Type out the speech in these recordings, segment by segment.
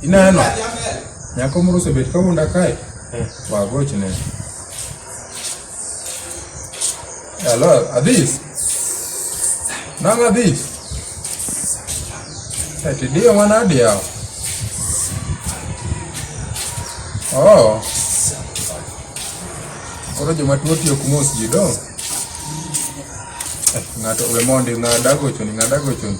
Ineno? Nyako moro osebet ka wuonda kae. Eh. Wagochne. Hello, Adis. Nang Adis. Eti eh, dio mana dia. Oh. Koro joma tuo tiyo kumos ji dong. Eh, ng'ato we mondi ng'ada gochoni, ng'ada gochoni.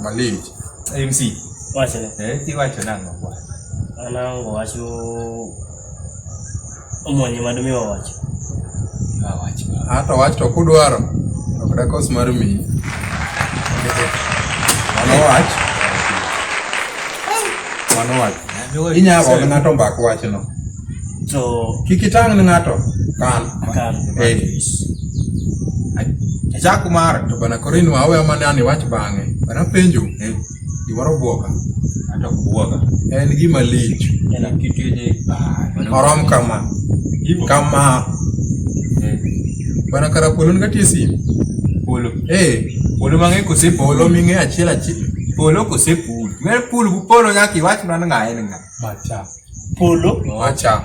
Malich. MC. Wachne. Eh, iwacho nang'o kwa? Anango wacho omwonye mad mi wawacho. Awacho. Hata wach to kudwaro. Ok dakos mar mi. Mano wach. Mano wach. Inyalo ng'ato mbak wachno. to kik itang' ne ng'ato kal akal Eh. Jack Umar to bana koro inwa aweya mane an iwach bang'e bana penjo eh, gimoro bwoka ato kuoga en gima lich en akitini orom kama kama bana kara polo nga tie sim polo eh polo mang'e kose polo ming'e achiel achiel polo kose pul mer pul bu polo nyaka iwach mana ng'a en ng'a Macha. Polo. Macha.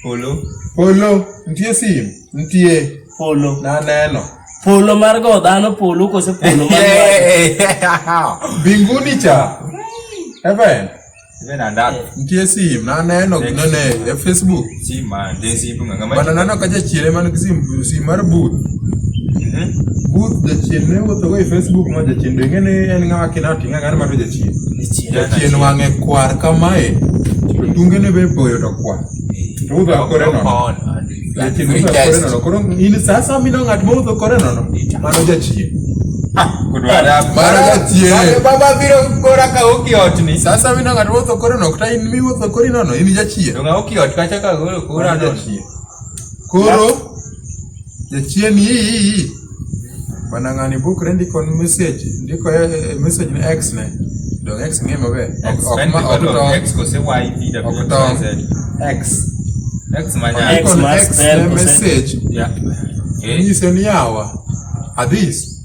Polo. Polo. Nitie sim. Nitie. Polo. Naneno. Polo mar go dhano polo kose polo mar Binguni cha. Heaven. Nitie sim. Naneno ginene e Facebook. Sima, dia sima nggak nggak Mana nana kaca cile mana kesim si marbut. Mhm. But jacien ne wo togo Facebook ma jacien de ngene en nga akina tinga ngar ma jacien. Jacien wange kwar kamae. Tunge ne be boyo to kwa. Tu da kore no. Jacien ne da kore no. Koro ini sasa mi no ngat mo to kore no no. Mano jacien. Baba biro kora ka okiotni. Sasa mi no ngat mo to kore no. Kta in mi wo to kore no no. Ini jacien. Tungaoki otkachaka golo kura dosi. Koro jachieni hii bana ng'ani bukre ndiko ni message ndiko eh, eh, message ni x ne dong x ng'e maber Ok- ok ma- ok tong. X kose Y P Ok W tong. Z. X. X manya. X Ndiko ni ma x spell ne kose- message Yeah. Eh. nyiso ni yawa adhis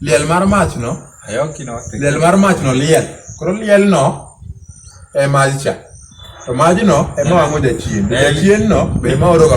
Liel mar machno, liel mar machno liel. Koro lielno e majcha. To majno ema wang'o jachien. Jachienno be ema oroga